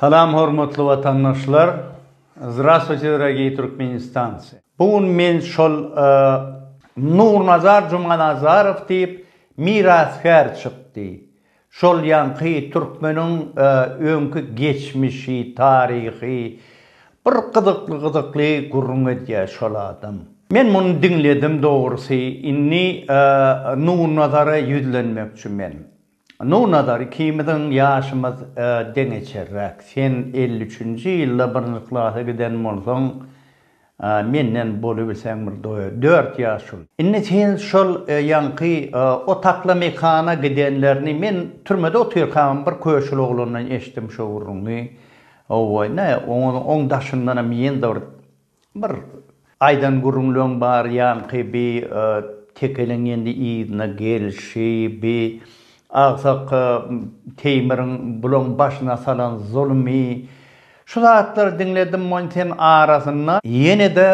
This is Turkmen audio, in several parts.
Salam hormatly watandaşlar! Zdravstvuyte dragii Türkmenistanci! Bu gün men şol Nurnazar Jumanazarow diýip mirasgär çykdy. Şol ýaňky türkmeniň öňki geçmişi, taryhy bir gyzykly gyzykly gürrüň edýär şol adam. Men muny diňledim dogrusy indi Nurnazara ýüzlenmekçi men. Nur Nazar ikimiziň ýaşymyz deňeçerräk. Sen elli üçünji ýylda birinji klasa giden bolsaň, menden bolubilseň bir dört ýaş uly. Indi sen şol ýaňky otakly mekana gidenlerini men türmede otyrkam bir köşül oglandan eşitdim şu gürrüňi. Hawa, näme, onuň daşyndanam ýene-de bir Bir aýdan gürrüňleň bar ýaňky bi tekeleň indi yzyna gelşi bi agsak Teýmiriň bulaň başyna salan zulmy şu zatlary diňledim mony sen arasynda ýenede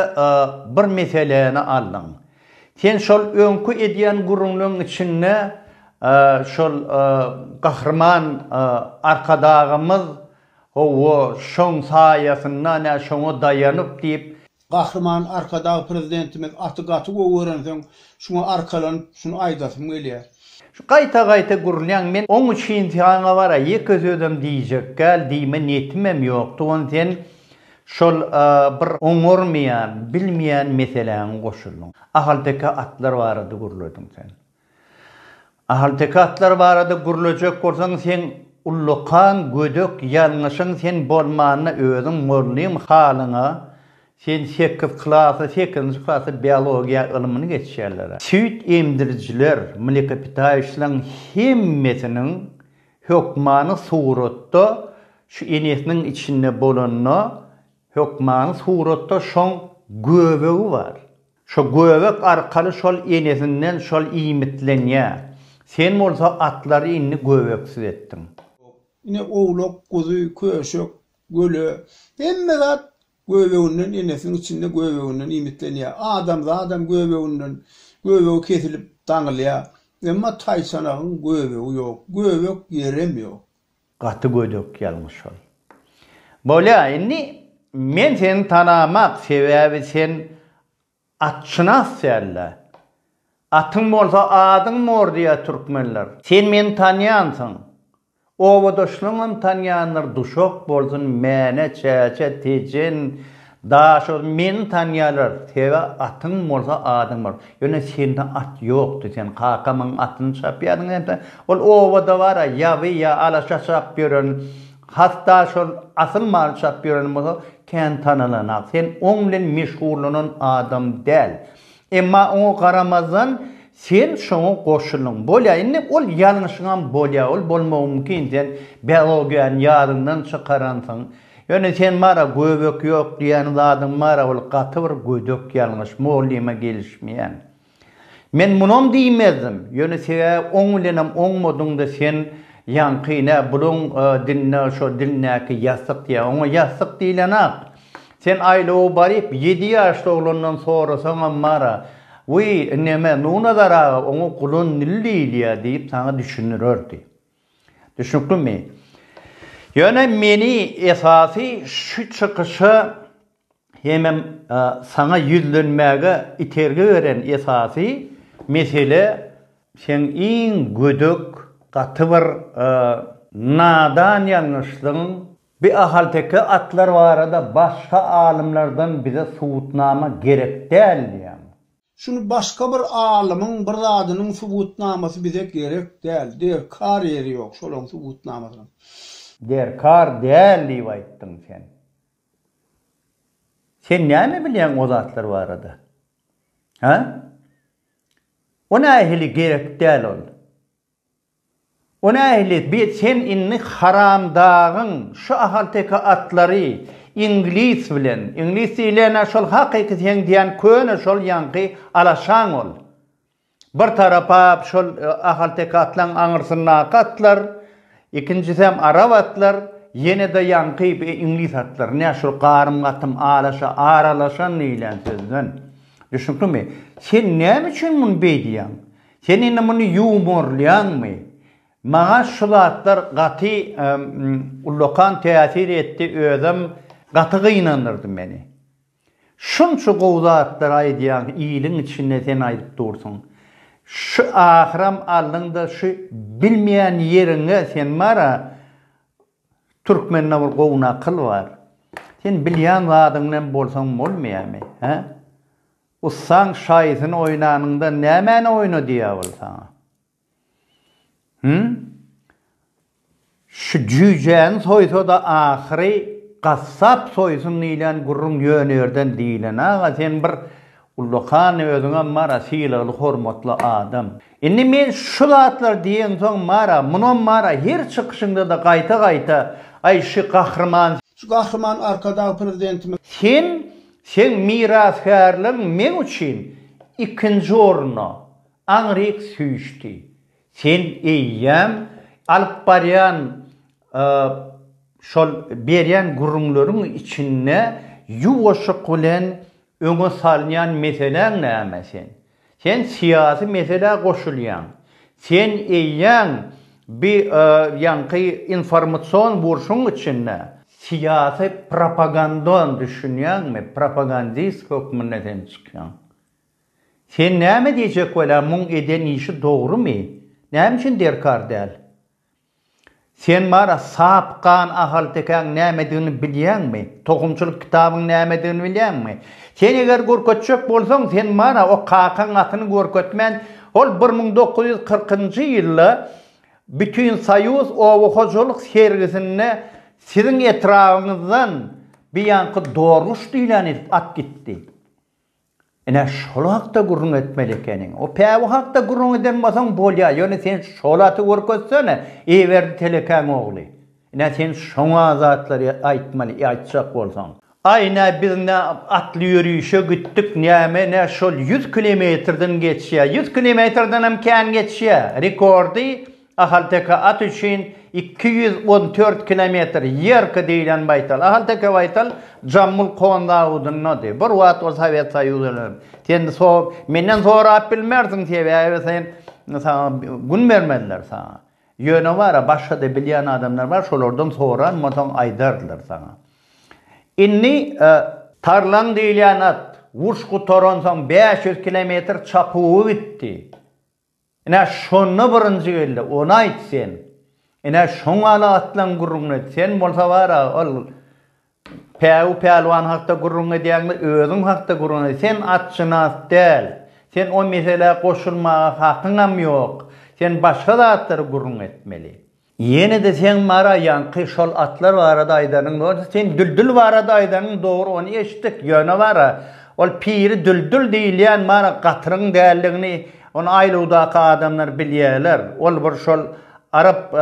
bir meseläni aldyň sen şol öňki edýän gürrüňleň içinde şol gahryman arkadagymyz Hawa, şoň saýasynda, nä şoňa daýanyp diýip. Gahryman Arkadag Prezidentimiz aty gaty gowy görensoň, şuňa arkalanyp, şuny aýdasym gelýär. Şu gaýta-gaýta gürlýäň, men oň üçin saňa bar-a ýeke sözem diýjekgäl, diýme niýetimem ýokdy, ony sen şol bir oňarmaýan, bilmeýän meseläňe goşuldyň. Ahalteke atlar barada gürlediň sen. Ahalteke atlar barada gürlejek bolsaň seň ullakan gödek ýalňyşyň sen bolmanda özüň mugallym halyňa sen sekiz klasy sekizinji klasy biologiýa ylmyny geçýärlerä. Süýt emdirijiler mlekopitaýuşlaň hemmesiniň hökmany suratda şu enesiniň içinde bolanda hökmany suratda şoň göbegi bar. Şo göbek arkaly şol enesinden şol iýmitlenýä. Sen bolsa atlary indi göbeksiz etdiň. Ine owlak, guzy, köşek, köle, hemme zat göbeginden enesiniň içinde göbeginden iýmitlenýä. Adamzadam göbeginden, göbegi kesilip daňylýa. Emma taýçanagyň göbegi ýok. Göbek ýerem ýok. Gaty gödek ýalňyş şol. Bolýa indi men seni tanamak sebäbi sen atşynas dällä. Atyň bolsa adyň mor diýýä türkmenler. Sen meni tanýansyň. Obadaşlaňam tanýandyr duşak bolsun Mäne Çäçe Tejen Daşoguz meni tanýarlar sebä atyň bolsa adyň bar ýöne sende at ýokdy sen kakamyň atyny çapýadyň hemde ol obada bara ýaby ýa alaşa çapyp ýören has daşoguz asyl maly çapyp ýören bolsa kän tanalanak sen oň bilen meşgurlanan adam däl emma oňa garamazdan sen şoňa goşuldyň bolýa indi ol ýalňyşyňam bolýa ol bolmagy mümkin sen biologiýany ýadyňdan çykaransyň Ýöne sen bara göbek ýok diýýän zadyň bara ol gaty bir gödek ýalňyş mugallima gelişmeýän. Men munam diýmezdim, ýöne sebäbi oň bilenem oňmadyňda sen ýaňky nä buluň dinde şo dilindäki ýassyk diýýä oňa ýassyk diýilenak. Sen aýlawa baryp ýedi ýaşly oglandan sorasaňam bara Wiý neme Nunazar aga oňa gulan dil diýilýä diýip saňa düşündirerdi. Düşnüklimi? Ýöne meni esasy şu çykyşa hemem saňa ýüzlenmäge itergi beren esasy mesele seň iň gödek gaty bir nadan ýalňyşlygyň bi ahalteke atlar barada başga alymlardan bize subutnama gerek däl diýýän. Şuny başga bir alymyň bir zadynyň subutnamasy bize gerek däl. Derkar ýeri ýok şolaň subutnamasynyň. Derkar däl diýip aýtdyň sen. Sen näme bilýäň o zatlar barada? Hä? O nähili gerek däl ol? O nähili bi sen indi haramdagyň şu ahalteke atlary iňlis bilen, iňlis diýilýän-ä şol hakyky seň diýýän köne şol ýaňky alaşaň ol. Bir tarapa şol ahalteke atlaň aňyrsyndaky atlar, ikinjisem arap atlar, ýene-de ýaňky bi iňlis atlary. Nä şul garym-gatym alaşa, aralaşan diýilýän sözden. Düşnüklimi? Sen näme üçin muny beýdýäň? Sen indi muny ýumorlaýaňmy? Maňa şu zatlar gaty ullakan täsir etdi, özem gaty gynandyrdy meni. Şunça gowy zatlar aýdýaň, iliň içinde sen aýdyp dursuň. Şu ahyram aldyňda şu bilmeýän ýeriňe sen bar-a, türkmende bir gowy nakyl bar. Sen bilýän zadyňdan bolsaň bolmaýamy, hä? Ussaň şaýysyny oýnanyňda nämäni oýna diýýär ol saňa? Hüm? Şu jüýjäni soýsa-da ahyry gassap soýsun diýlen gürrüň ýöne ýerden diýlen aga sen bir ullakan özüňem bar-a sylagly hormatly adam. Indi men şu zatlary diýensoň bar-a munam bar-a her çykyşyňda-da gaýta-gaýta aý şy gahryman, şu gahryman Arkadag Prezidentimiz. Sen Seň mirasgärligiň meň üçin ikinji orna aňryk süýşdi. Sen eýýäm alyp barýan şol berýän gürrüňleriň içinde ýuwaşyk bilen öňe salýan meseläň näme sen? Sen syýasy meselä goşulýaň. Sen eýýäm bi ýaňky informasion burşuň içinde. Syýasy propagandan düşünýäňmi? Propagandist hökmünde sen çykýaň. Sen näme diýjek welä muň eden işi dogrymy? Näme üçin derkar däl? Sen bar-a sap gan ahaltekäň nämedigini bilýäňmi? Tohumçylyk kitabyň nämedigini bilýäňmi? Sen eger görkezjek bolsaň, sen bar-a o kakaň atyny görkezmän, ol bir müň dokuz ýüz kyrkynjy ýylda Bütinsoýuz oba hojalyk sergisinde siziň etrabyňyzdan biýanky dorguş diýlän edip at gitdi. Ine, şol hakda gürrüň etmeli ekeniň. O päwi hakda gürrüň eden bolsaň bolýar, ýöne sen şol aty görkezsene, Eýeberdi telekäň ogly. Ine, sen şoňa zatlary aýtmaly, aýtjak bolsaň. Aý, nä, biz nä atly ýörişe gitdik, näme, nä şol ýüz kilometrden geçýär. Ýüz kilometrdenem kän geçýär. Rekordy Ahalteke at üçin iki ýüz on dört kilometr ýerki diýlen baýtal. Ahalteke baýtal Jammul Kon zawudyndady. Bir wagt ol Sowet Soýuzynydy. Sen menden sorap bilmersiň, sebäbi sen saňa gün bermezler saňa. Ýöne bar-a, başga-da bilýän adamlar bar, şolardan soran bolsaň aýdardylar saňa. Indi. Tarlan diýilýän at, uruş gutaransoň bäş ýüz kilometr çapuwy gitdi. Ine, şonda birinji geldi. Ony aýt sen. Ine, şoň ala atlaň gürrüňini et. Sen bolsa bar-a, ol Päwü pälwan hakda gürrüň edýäňmi, özüň hakda gürrüň et. Sen atşynas däl. Sen o meselä goşulmaga hakyňam ýok. Sen başga zatlary gürrüň etmeli. Ýene-de seň Mara ýaňky şol atlar barada aýdanyň bolsa sen Düldül barada aýdanyň dogry ony eşitdik ýöne Mara ol piri Düldül diýilýän Mara gatyryň däldigini ony aýlawdaky adamlar bilýäler ol bir şol arap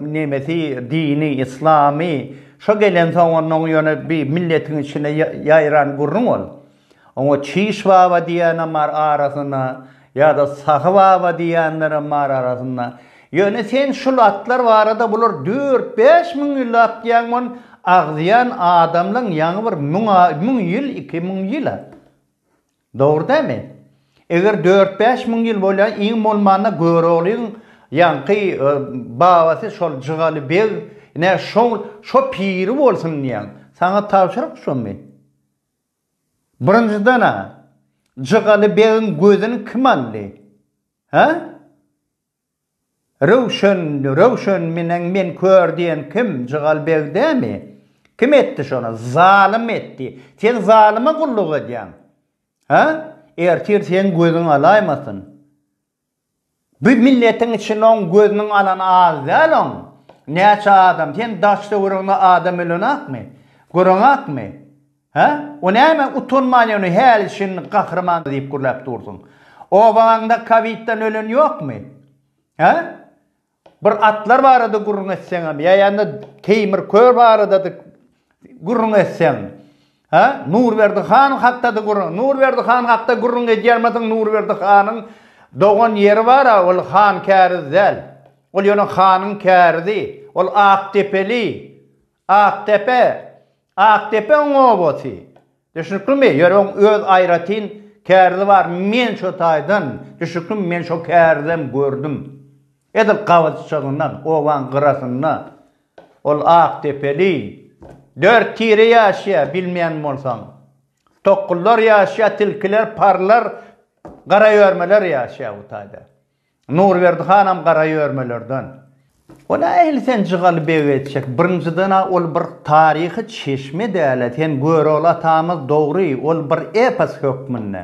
nemesi dini yslamy şo gelensoň onnoň ýöne bir milletiň içine ýaýran gürrüň ol. Oňa Çiş baba diýýänem bar arasynda, ýa-da Sahy baba diýýänlerem bar arasynda. Ýöne sen şul atlar barada bular dört-bäş müň ýyllap diýýäň bol, agzýan adamlaň ýaňy bir müň müň ýyl, iki müň ýyl-a. Dogry dämi? Eger dört-bäş müň ýyl bolýa, iň bolmanda Göroglyň ýaňky babasy şol Jygaly beg, ine, şo şo piri bolsun diýýäň. Saňa tabşyryk şomy? Birinjiden-ä, Jygaly begiň gözüni kim aldy? Hä? Röwşen, Röwşen menen men kör diýen kim? Jygaly beg dämi? Kim etdi şony? Zalym etdi. Sen zalyma gulluk edýäň. Hä? Ertir seň gözüň alaýmasyn. Bu milletiň içinde oň gözüniň alany az däl oň näçe adam sen daş döwrüňde adam ölenakmy göreňakmy hä o näme utanman ýöne häli şindi gahryman diýip gürläp dursuň obanyňda kowidden ölen ýokmy hä Bir atlar barada gürrüň etseňem, ýa ýa-da Teýmir kör barada-da gürrüň etseň, ha? Nurberdi han hakda-da gürrüň. Nurberdi han hakda gürrüň edýärmidiň? Nurberdi hanyň dogan ýeri bar-a, ol Han-Käriz däl. Ol ýöne hanyň kärizi. Ol Akdepeli. Akdepe, Akdepeň obasy. Düşnüklimi? Ýöne oň öz aýratyn kärzi bar. Men şo taýdan, düşnüklimi, men şo kärizem gördüm. Edil gabaçygyndan, obaň gyrasynda ol akdepeli dört tire ýaşaýar, bilmeýän bolsaň. Tokgullar ýaşaýar, tilkiler, parlar, garaýörmeler ýaşaýar bu taýda. Nurberdi hanam gara ýörmelerden. Wala ähli sen Jygaly beg etjek. Birinjiden-ä ol bir taryhy çeşme däl-ä, sen Görogly atamyz dogry, ol bir epos hökmünde.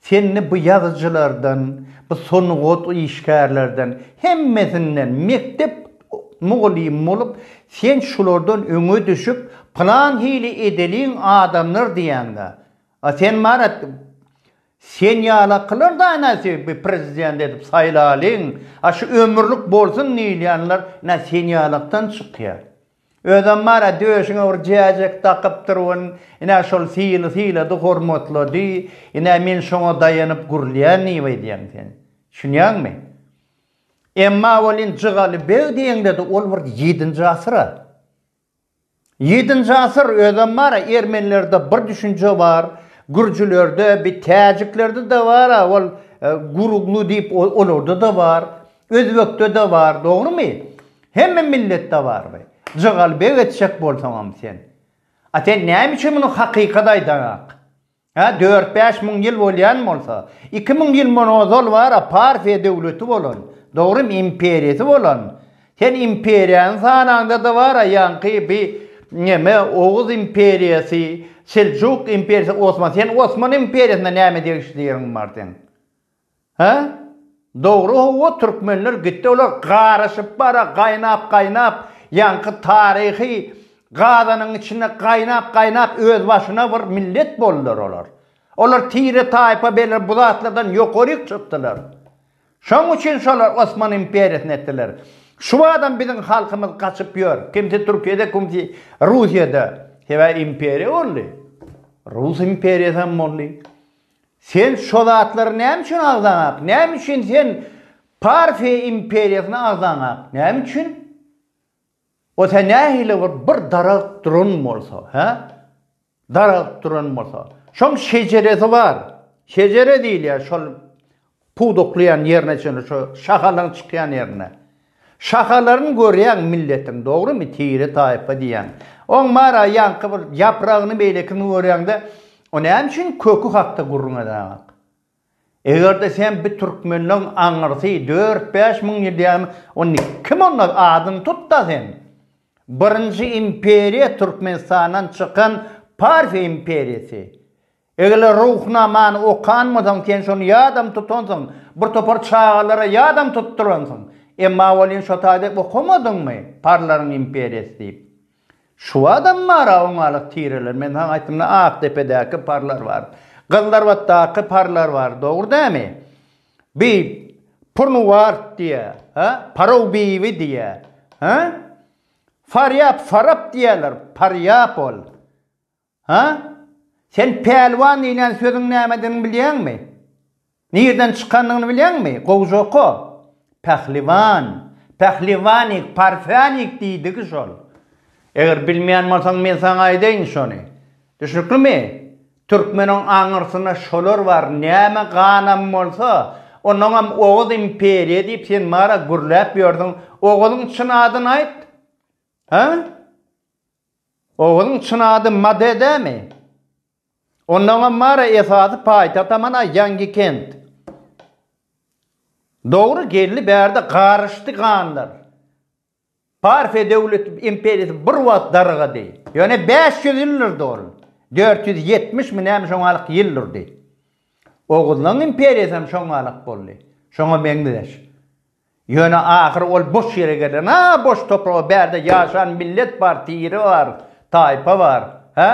Senli bu ýazyjylardan, bu sungat işgärlerden, hemmesinden mekdep mugallymy bolup, sen şulardan öňe düşüp, pylan hili edeliň adamdyr diýäňde, a sen marat, Sen ýalakylar da ene sebbi prezident edip saýlalyň a şu ömürlik bolsun diýilýänler ene sen ýalakdan çykýa. Özem bar a döşüňe bir jäjek dakypdyr wen ene şol syly sylady hormatlady ene men şoňa daýanyp gürlýän diýip aýdýaň sen. Düşünýäňmi? Emma welin Jygaly beg diýeňde de ol bir ýedinji asyr a. Ýedinji asyr özem bara ermenilerde bir düşünje bar, gürjülerde, bi täjiklerde-de bar-a ol guruglu diýip olarda-da bar, özbekde-de bar, dogrumy? Hemme milletde bar bi. Jygalbeg etjek bolsaňam sen. A sen näme üçin muny hakykat aýdaňak? Hä, dört-bäş müň ýyl bolýan bolsa, iki müň ýyl mundan ozal bar-a Parfiýa döwleti bolan, dogrymy, imperiýasy bolan, sen imperiýany sanaňda-da bar-a ýaňky bi neme Oguz imperiýasy, Seljuk imperiýasy, Osman, sen Osman imperiýasyna näme degişli ýeriň bar seň? Hä? Dogry howwa türkmenler gitdi olar garyşyp bara gaýnap gaýnap ýaňky taryhy gazanyň içinde gaýnap gaýnap öz başyna bir millet boldular olar. Olar tire taýpa beler bu zatlardan ýokaryk çykdylar. Şoň üçin şolar Osman imperiýasyny etdiler. Şubadam biziň halkymyz gaçyp ýör kimsi türkiýede kimsi russiýada sebäbi imperiýa boldy. Rus imperiýasy hem boldy. Sen şo zatlary näme üçin agzaňak? Näme üçin sen Parfiýa imperiýasyna agzaňak? Näme üçin? O sen nähili bir bir daragt duran bolsa, hä? Daragt duran bolsa. Şoň şejeresi bar. Şejere diýilýär şol Pudaklaýan ýerine çenli şo şahalaň çykýan ýerine. Şahalaryn görýäň milletiň dogrymy tire taýpa diýýäň. Oň bara ýaňky bir ýapragyny beýlekini görýäňde o näme üçin köki hakda gürrüň edäňok. Egerde sen bir türkmenleň aňyrsy dört bäş müň ýyl diýäňde onda kim onda adyny tutda sen. Birinji imperiýa türkmenistandan çykan parfiýa imperiýasy. Eger-le Ruhnamany okanmasaň, sen şony ýadam tutansyň, bir topar çagalara ýadam tutduransyň. Emma welin şo taýda okamadyňmy, Parlaryň imperiýasy diýip? Şuwadam bar-a oňalyk tireler. Men saňa aýtdym-la, Akdepedäki Parlar bar. Gyzlarbatdaky Parlar bar. Dogry dälmi? Bi Purnuwart diýýä, hä? Parow-biwi diýýä, hä? Farýap, Farap diýýäler. Parýap ol. Hä? Sen pälwan diýlen sözüň nämedigini bilýäňmi? Nirden çykandygyny bilýäňmi? Gowja oka. Pähliwan. Pähliwanik, parfänik diýdigi şol. Eger bilmeýän bolsaň, men saňa aýdaýyn şony. Düşnüklimi? Türkmeniň aňyrsynda şolar bar, näme ganam bolsa, onuňam Oguz imperiýa diýip sen maňa gürläp ýördüň. Oguzyň çyn adyny aýt. Hä? Oguzyň çyn ady Made dämi? Onnoňam Mara esasy paýtagt amana ýangi kent. Dogry geldi bärde garyşdy ganlar. Parfiýa döwleti imperiýasy bir wagt dargady. Ýöne bäş ýüz ýyl durdy ol. Dört ýüz ýetmiş mi näme şoňalyk ýyl durdy. Oguzlaň imperiýasam şoňalyk boldy. Şoňa meňzeş. Ýöne ahyry ol boş ýere gelen, a boş topraga bärde ýaşan millet bar, tire bar, taýpa bar, hä?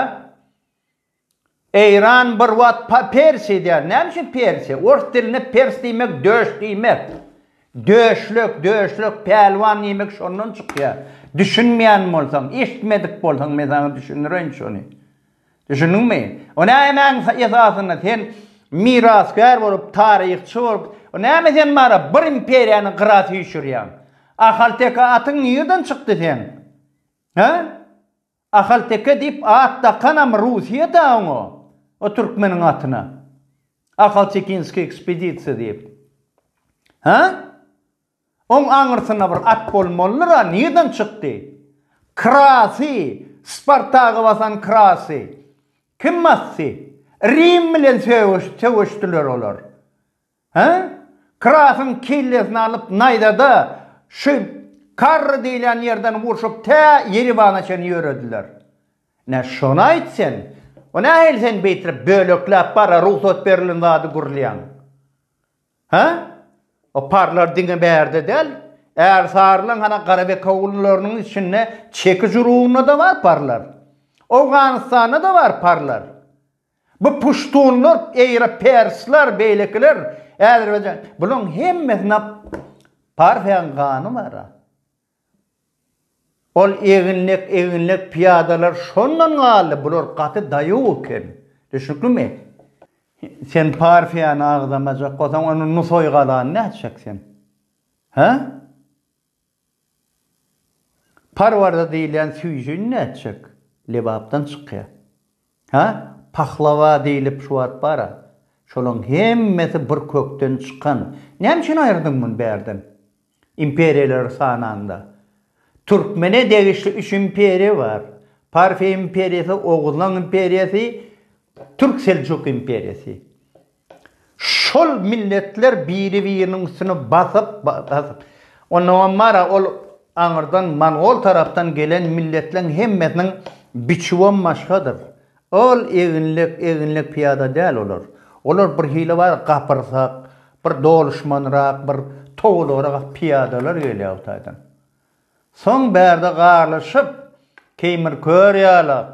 Eýran bir wagt pa Persi edýär, näme üçin Persi? Ors dilinde Pers diýmek döş diýmek. Döşlük, döşlük, pälwan diýmek şondan çykýar. Düşünmeýän bolsaň, eşitmedik bolsaň men saňa düşündireýin şony. Düşündiňmi? O nämäň esasynda sen mirasgär bolup, taryhçy bolup, o näme sen bara bir imperiýany gyra süýşürýäň? Ahalteke atyň nirden çykdy seň? Hä? Ahalteke diýip at dakanam Russiýa-da oňa, o türkmeniň atyna. Ahaltekinskiý ekspedisiýa diýip. Hä? Oň aňyrsynda bir at bolmalydyr-a, nirden çykdy? Krasy, Spartagy basan Krasy. Kim basdy? Rim bilen söweşdiler olar. Hä? Krasyň kellesini alyp naýzada şu Karry diýilýän ýerden urşup tä Ýeribana çenli ýörediler. Nä şony aýt sen? O nähili sen beýtirip bölekläp bara rugsat berilen zady gürlýäň? Hä? Oparlar diňe bärde däl, Ärsarylaň hana Garabekowullarynyň içinde Çekiş urugynda-da bar parlar. Owganystanda-da bar parlar. Bu puştunlar, eýra persler, beýlekiler, Äzerbaýjan, bularyň hemmesinde parsyň gany bar-a. Ol eginlek eginlek pyýadalar şondan galdy, bular gaty daýaw eken. Düşnüklimi? Sen partiýany agzamajak bolsaň, onda Nusaý galany nädip çek sen? Hä? Parwarda diýilýän süýjini nädip çek? Lebapdan çykýa. Hä, pahlawa diýlip şu wagt bar-a. Şolaň hemmesi bir kökden çykan. Näme üçin aýyrdyň muny bärden? Imperiýalary sanaňda. Türkmene degişli üç imperiýa bar. Parfiýa imperiýasy, Oguzlaň imperiýasy, Türk-Seljuk imperiýasy. Şol milletler biri-biriniň üstüne basyp, basyp. Onda hem bar-a, ol aňyrdan mongol tarapdan gelen milletleň hemmesiniň biçüwem başgadyr. Ol eginlek, eginlek pyýada däl olar. Olar bir hili bar, gapyrsak, bir doluşmanrak, bir towulgyrak pyýadalar gelýär o taýdan. Soň bärde garlyşyp, keýmir kör ýalak,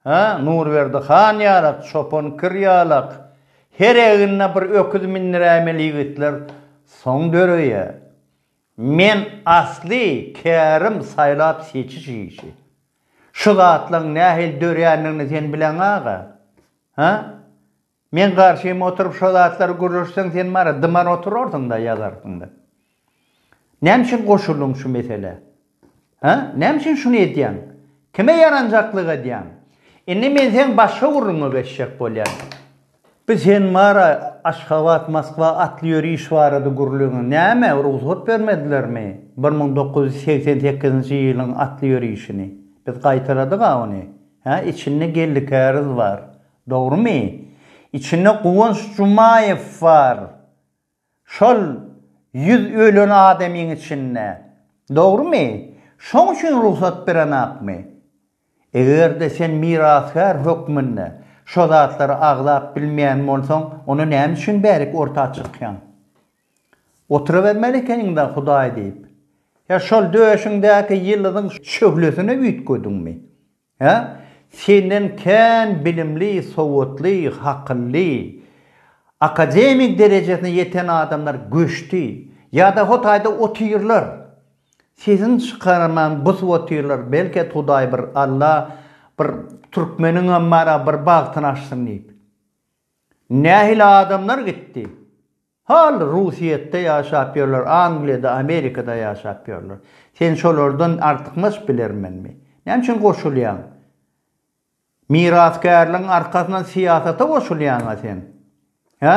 Hä, Nurberdi han ýalak, çopan kir ýalak, her egnine bir öküz mindiräýmeli ýigitler soň döreýär. Men asly kärim saýlap-seçiş işi. Şu zatlaryň nähili dörändigini sen bileň aga. Hä? Men garşym oturyp şo zatlary gürleşseň sen bara dymar oturarsyňda ýazarsyňda. Näme üçin goşuldyň şu meselä? Hä? Näme üçin şuny edýäň? Kime ýaranjaklyk edýäň? Indi men seň başga gürrüňe geçjek bolýan. Bu sen bara Aşgabat, Moskwa atly ýöriş barada gürleňiň. Näme, rugsat bermedilermi bir müň dokuz ýüz segsen sekizinji ýylyň atly ýörişini? Biz gaýtaladyk-a ony. Hä, içinde geldikäriz bar. Dogrymy? Içinde Guwanç Jumaýew bar. Şol ýüz ölen adamyň içinde. Dogrymy? Şoň üçin rugsat berenakmy? Eger-de sen mirasgär hökmünde şo zatlary agzap bilmeýän bolsaň, onda näme üçin bärik orta çykýaň? Otyrabermeli ekeniň-dä Hudaý diýip. Ýa şol döşüňdäki ýyldyzyň şöhlesine üýtgediňmi? Hä? Senden kän bilimli, sowatly, hakylly, akademik derejesine ýeten adamlar göçdi. Ýa-da Hotaýda otyrlar. Sesini çykarman busup otyrlar. Belki Hudaý bir, Alla bir türkmeniňem bar-a, bir bagtyny açsyn diýip. Nähili adamlar gitdi? Hal Russiýetde ýaşap ýörler, Angliýada, Amerikada ýaşap ýörler. Sen şolardan artykmaç bilermenmi? Näme üçin goşulýaň? Mirasgärligiň arkasyndan syýasata goşulýaň-a sen? Hä?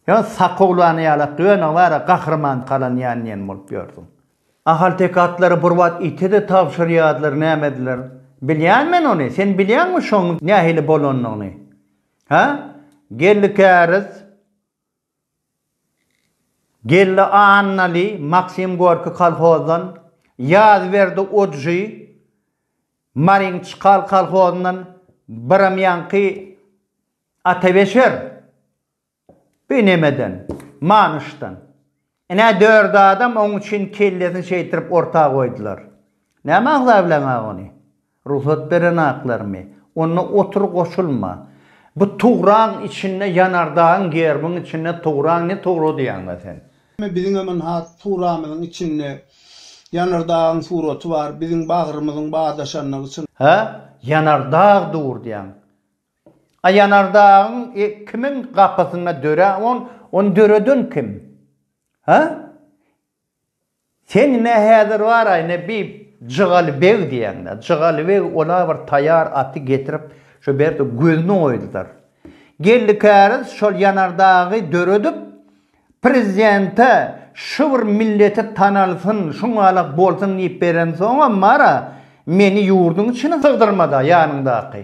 Ýa sakowlany ýalak döne bar-a gahryman kalanýan diýen bolup ýörsüň. Ahalteke atlary bir wagt ite-de tabşyrýardylar, nämediler? Bilýän men ony, sen bilýäňmi şoň nähili bolanyny? Hä? Geldi Käriz, geldi Annaly, Maksim Gorki kolhozdan, Ýazberdi Ujy, Marin Çkal kolhozyndan, biram ýaňky Atabeşer, bi nemeden, Manyşdan. Ine, dört adam oň üçin kellesini şeýtirip orta goýdular. Näme agzablaňa ony? Rugsat berenaklarmy? Onda otur goşulma. Bu tugrag içinde ýanardagyň gerbiň içinde tugrag ne tugrugy diýýäňda sen? Biziňem ynha tugramyzyň içinde ýanardagyň suraty bar, biziň bagrymyzyň badaşandygy çyn. Hä, ýanardag dur diýäň. Aýanardagyň kimiň gapysynda dörä on, ony döreden kim? Hä? Sen ne häzir bar-aý, ne bi Jygaly beg diýeňde. Jygaly beg ola bir taýar aty getirip, şo berde gözüni oýdular. Geldi käriz şol Ýanardagy döredip, prezidente şu bir milleti tanalsyn, şuňalak bolsun diýip berensoňam bar-a, meni ýurduň içine sygdyrmady-a ýanyňdaky.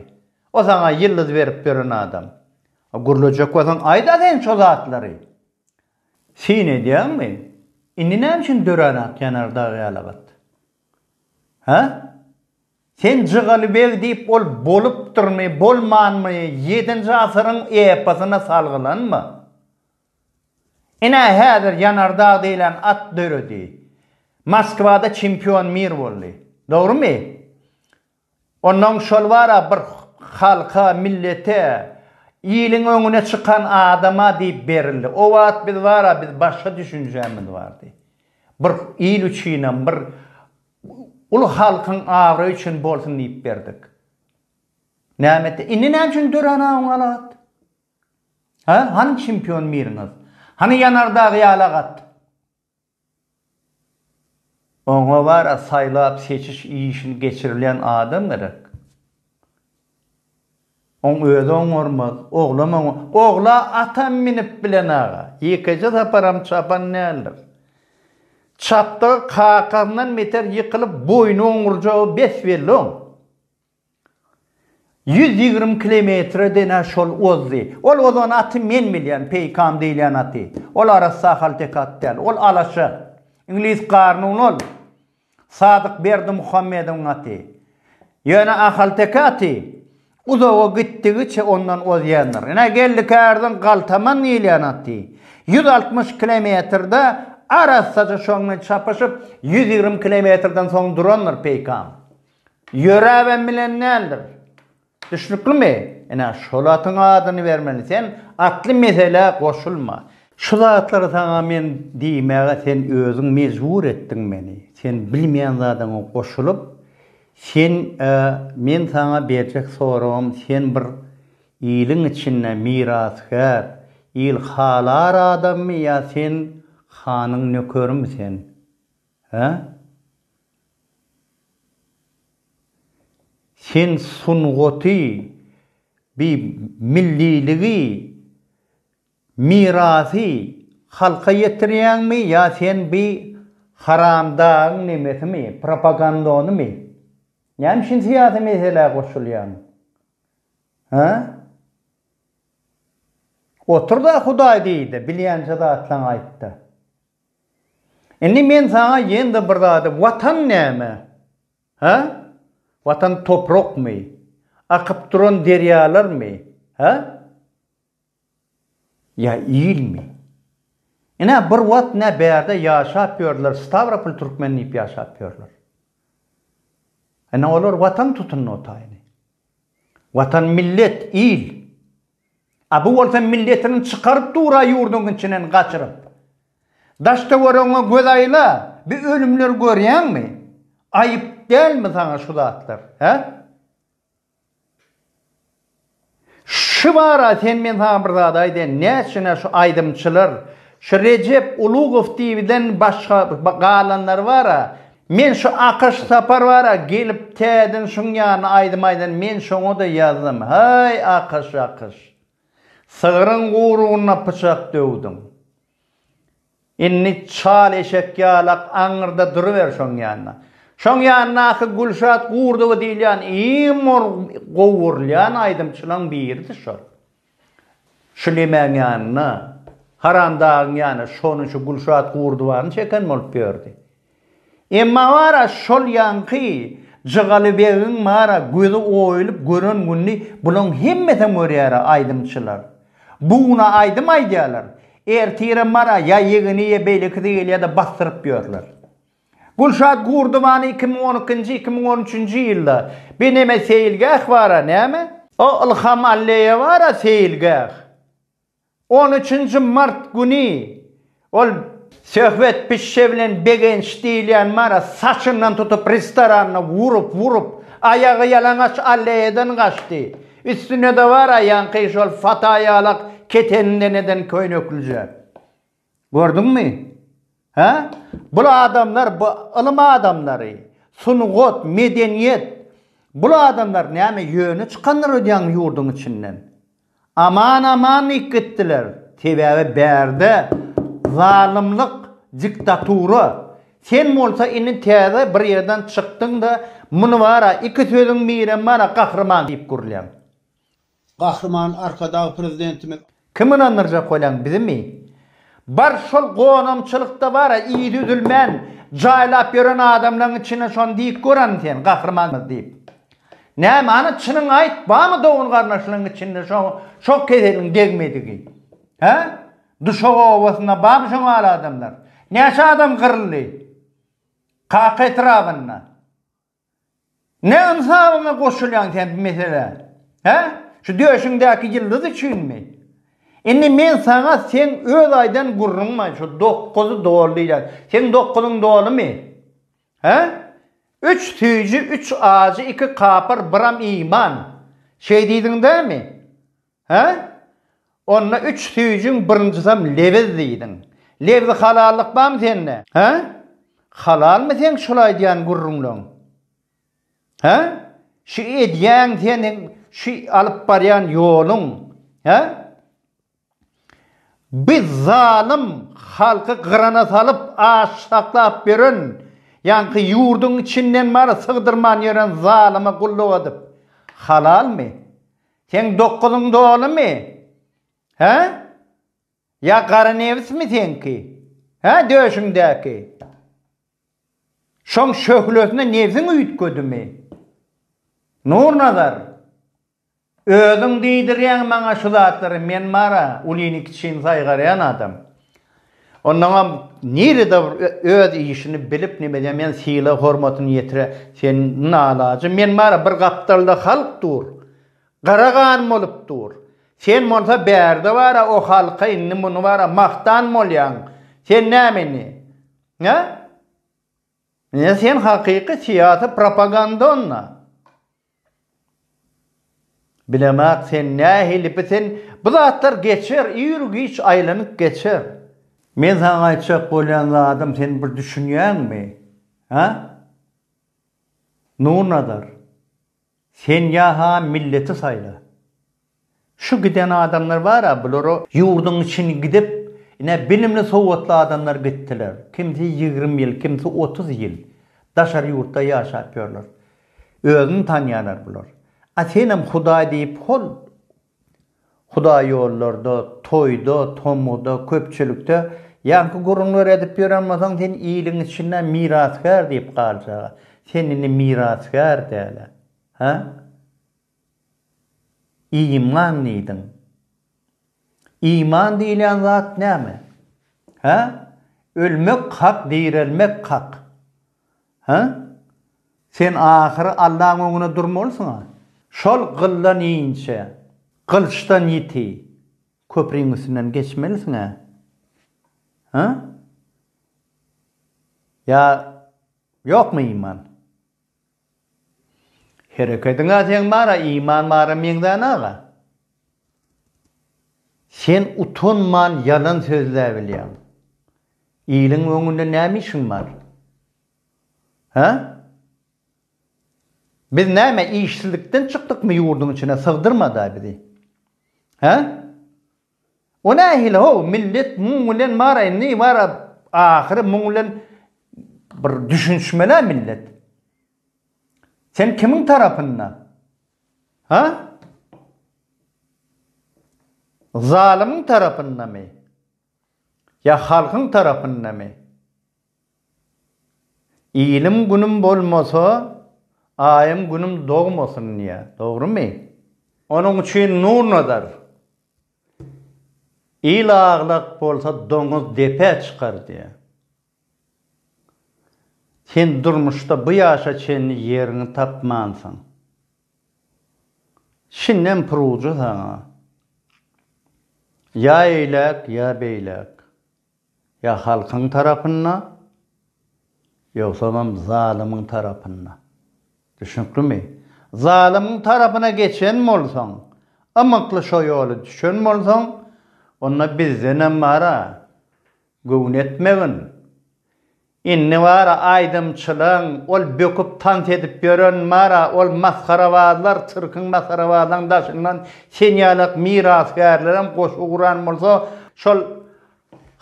O saňa ýyldyz berip ýören adam. Gürlejek bolsaň aýda sen şo zatlary. Syn edýäňmi? Indi näme üçin dörän ak ýanar dag ýaly gyz? Hä? Sen Jygaly beg diýip ol bolupdyrmy, bolmanmy, ýedinji asyryň eposyna salgylanma. Ine häzir ýanar dag diýlen at döredi. Moskwada çempion mir boldy. Dogrymy? Onnoň şol bar-a bir halka, millete, iliň öňüne çykan adama diýip berildi. O wagt biz bar-a biz başga düşünjämiz bardy. Bir il üçinem, bir uly halkyň abraýy üçin bolsun diýip berdik. Näme etdi? Indi näme üçin dörän awuň alagat? Hä? Hany çempion miriňiz? Hany ýanardagy ýalagat? Oňa wara saýlap-seçiş işini geçirilýän adam gerek. Oň özi oňarmaz, oglam oňar. Ogla atam minip bilen aga. Ýekeje saparam çapan däldir. Çapdygy kakasyndan beter ýykylyp boýny oňurjagy bes belli oň. Ýüz ýigrimi kilometre de-ne şol ozdy. Ol ozan aty men bilýän, Peýkam diýilýän aty. Ol arassa ahalteke at däl. Ol alaşa. Iňlis garnuny ol. Sadyk Berdimuhammedowyň aty. Ýöne ahalteke aty uzaga gitdigiçe ondan ozýandyr. Ine, geldik ärden Galtaman diýilýän aty. Ýüz altmyş kilometrede arassaja şoň bilen çapyşyp, ýüz ýigrimi kilometreden soň durandyr Peýkam. Ýöräbem bilen däldir. Düşnüklimi? Ine, şol atyň adyny bermeli. Sen atly meselä goşulma. Şu zatlary saňa men diýmäge sen özüň mejbur etdiň meni. Sen bilmeýän zadyňa goşulyp, sen Men saňa berjek soragym, sen bir iliň içinde mirasgär, il halar adammy ýa sen hanyň nökerimi sen? Hä? Sen sungaty, bi milliligi, mirasy halka ýetirýäňmi ýa sen bi haramdagyň nemesimi, propagandonymy? Näme üçin syýasy meselä goşulýaň? Hä? Otur-da Hudaý diý-de, bilýänçe zatlaňy aýt-da. Indi men saňa ýene-de bir zady, Watan näme? Hä? Watan toprakmy? Akyp duran derýalarmy? Hä? Ýa ilmi? Ine, bir wagt nä bärde ýaşap ýördiler, Stawropol türkmeni diýip ýaşap ýörler. Ine, olar Watan tutundy otaýyny. Watan millet, il. A bu bolsa milletini çykaryp dura ýurduň içinden gaçyryp. Daş-töweregiňe göz aýla, bi ölümleri görýäňmi? Aýyp dälmi saňa şu zatlar, hä? Şu bara sen men saňa bir zat aýdaýyn, näçe-nä şu aýdymçylar, şu Rejep Ulugow diýibiden başga galanlary bar-a, Men şu Akyş sapar bara gelip täden şuň ýaly aýdym aýdan men şoňada ýazdym haý Akyş Akyş sygryň gurugna pyçak döwdüň indi çal eşek ýalak aňyrda duruber şoň ýanda şoň ýandaky Gülşat Gurdowa diýilýän iň gowy görülýän aýdymçylaň biridir şol Şu Lemäň ýanyna, Haramdagyň ýanyna şony şu Gülşat Gurdubany çeken bolup ýördi. Emma bar-a şol ýaňky Jygaly begiň bar-a gözi oýulyp gören gününi bulaň hemmesem görýär-ä aýdymçylar. Bu güne aýdym aýdýarlar, ertirem bar-a ýa ýegeni ýa beýlekisi gelýär-de basdyryp ýörler. Gülşat Gurdubany iki müň on ikinji, iki müň on üçünji ýylda Beneme seýilgäh bar-a, näme? O Ylham Alleýe bar-a seýilgäh. On üçünji mart güni ol Söhbet pişşe bilen Begenç diýilýän bar-a, saçyndan tutup restoranda urup, urup, aýagy ýalaňaç Alleýeden gaçdy. Üstünde-de bar-a ýaňky şol fataýalak keteninden eden köýneklijä. Gördüňmi? Hä? Bul adamlar, bu ylym adamlary, sungat, medeniýet, bul adamlar näme ýöne çykandyr öýdýäňmi ýurduň içinden? Aman aman diýip gitdiler. Sebäbi bärde zalymlyk, diktatura. Sen bolsa indi täze bir ýerden çykdyň-da, muny bar-a, iki sözüň birem bar-a, gahryman diýip gürlýäň. Gahryman Arkadag Prezidentimiz. Kim ynandyrjak bolan bizimi? Bar şol gonamçylykda bara yzy üzülmän jaýlap ýören adamlaň içinde şony diýip görani sen gahrymanmyz diýip. Näme ana çynyňy aýt bamy dogan garnaşlaň içinde şo şo keseliň degmedigi? Hä? Duşak obasynda bamy şoň aly adamlar? Näçe adam gyryldy? Kaka etrabynda. Ne ynsabyňa goşulýaň sen bu meselä? Hä? Şu döşüňdäki ýyldyz üçinmi? Indi men saňa seň öz aýdan gürrüňme, şu dokuz doly diýýän. Seň dokuzyň dolumy? Hä? Üç süýji, üç ajy, iki kapyr, biram iman. Şeý diýdiň dämi? Hä? Onda üç süýjiň birinjisem lebz diýdiň. Lebzi halallyk barmy sende? Hä? Halalmy seň şul aýdýan gürrüňleň? Hä? Şu edýän seniň şu alyp barýan ýoluň? Hä? Biz zalym halky gyrana salyp aç saklap ýören ýaňky ýurduň içinden bary sygdyrman ýören zalyma gulluk edip halalmy? Seň dokuzyň dolumy? Hä? Ýa gara nebismi seňki? Hä döşüňdäki? Şoň şöhlesine nebsiň üýtgedimi? Nurnazar, özüň diýdirýäň maňa şu zatlary, men mara, ulyny-kiçini saýgarýan adam. Ondaňam nirede bir öz işini bilip nimede men syla hormatyny ýetire sen nalaje men bara bir gapdalda halk dur gara gan bolup dur sen bolsa bärde bara o halka indi muny bara magtan bolýaň sen näme indi he indi sen hakyky syýasy propaganda onda. Bilemok sen nähili biten bu zatlar geçer ir giç aýlanyp geçer. Men saňa aýtjak bolýan zadym sen bir düşünýäňmi hä Nurnazar sen ýa-ha milleti saýla Şu giden adamlar bara bulara ýurdyň içini gidip ine bilimli sowatly adamlar gitdiler kimsi ýigrimi ýyl kimsi otuz ýyl daşary ýurtda ýaşap ýörler özüni tanýalar bular a senem hudaý diýip hol hudaý ýollarda toýda tomguda köpçülikde ýaňky gürrüňleri edip ýören bolsaň sen iliň içinde mirasgär diýip galjag a sen indi mirasgär dälä ha. Iman diýdiň. Iman diýilýän zat näme? Hä? Ölmek hak, direlmek hak. Hä? Sen ahyry Allaň öňüne durmalysyň-a. Şol gyldan inçe, gylyçdan ýiti köpriň üstünden geçmelisiň-ä. Hä? Ýa ýokmy iman? Herekediň a seň bara iman bara meňzän aga. Sen utanman ýalan sözläbilýäň. Iliň öňünde näme işiň bar? Hä? Biz näme işsizlikden çykdykmy ýurduň içine sygdyrmada bizi. Hä? O nähili how millet muň bilen bar indi bar ahyry muň bilen bir düşünişmelä millet. Sen kimiň tarapynda? Ha? Zalymyň tarapyndamy? Ýa halkyň tarapyndamy? Ilim günüm bolmasa, aýym günüm dogmasyn diýýär. Dogrumy? Onuň üçin Nurnazar, Il aglak bolsa doňuz depä çykar diýýär. Sen durmuşda bu ýaşa çenli ýeriňi tapmansyň. Şindem purujy saňa. Ýa eýläk, ýa beýläk. Ýa halkyň tarapynda, ýogsamam zalymyň tarapynda. Düşnüklimi? Zalymyň tarapyna geçen bolsaň, ymykly şo ýoly düşen bolsaň, onda bizdenem bar-a, göwün etmegin. Indi bara aýdymçylaň, ol böküp tans edip ýören bara ol masgarabazlar, sirkiň masgarabazlaň daşyndan sen ýalak mirasgärlerem goşgy guran bolsa şol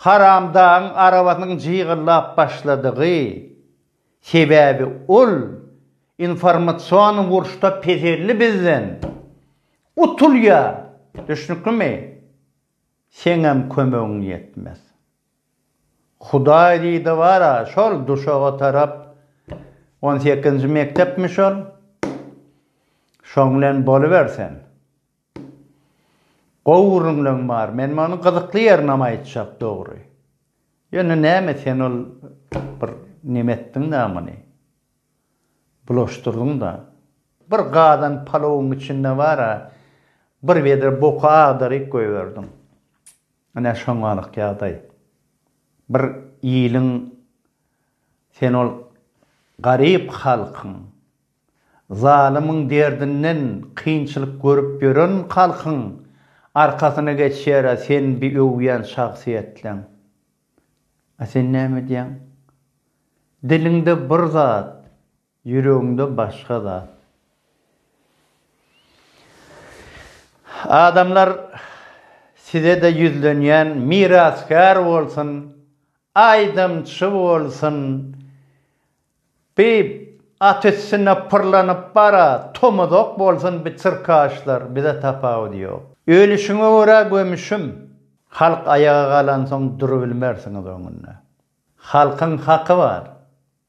haramdagyň arabasynyň jygyllap başladygy, sebäbi ol informasion urşda peselli bizden utulýar, düşnüklimi? Seňem kömegiň ýetmez. Hudaý diýdi, Bar-a, şol duşaga tarap, on sekizinji mekdepmi şol, şoň bilen boluber sen. Gowy gürrüňleň bar, men muny gyzykly ýerinam aýtjak, dogry. Ýöne näme sen ol bir neme etdiň-dä muny. Bulaşdyrdyň-da. Bir gazan palowyň içinde bar-a, bir wedre boky agdaryp goýberdiň. Ine şoňalyk ýagdaý. Bir iliň sen ol garyp halkyň, zalymyň derdinden kynçylyk görüp ýören halkyň arkasyna geçýär-ä sen bi öwýän şahsyýetleň. A sen näme edýäň? Diliňde bir zat, Ýüregiňde başga zat. Adamlar sizede ýüzlenýän mirasgär bolsun aýdymçy bolsun bi at üstünde pyrlanyp bara tomuzok bolsun bi çyrkaşlar bize tapawudy ýok ölüşiňe görä gömüşim halk aýaga galansoň durubilmersiňiz öňünde halkyň haky bar